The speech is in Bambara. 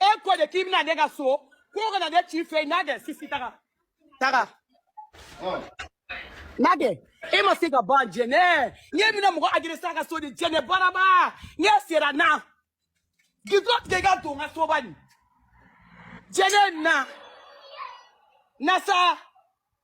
e ko de k'i bɛ na ne ka so ko ka na ne ci fɛ na dɛ sisi taga taga n'a kɛ e ma se ka ban jɛnɛ ne bɛna mɔgɔ agressé a ka so de jɛnɛ baraba ne sera na gidro tigɛ i ka don n ka soba nin jɛnɛ na na sa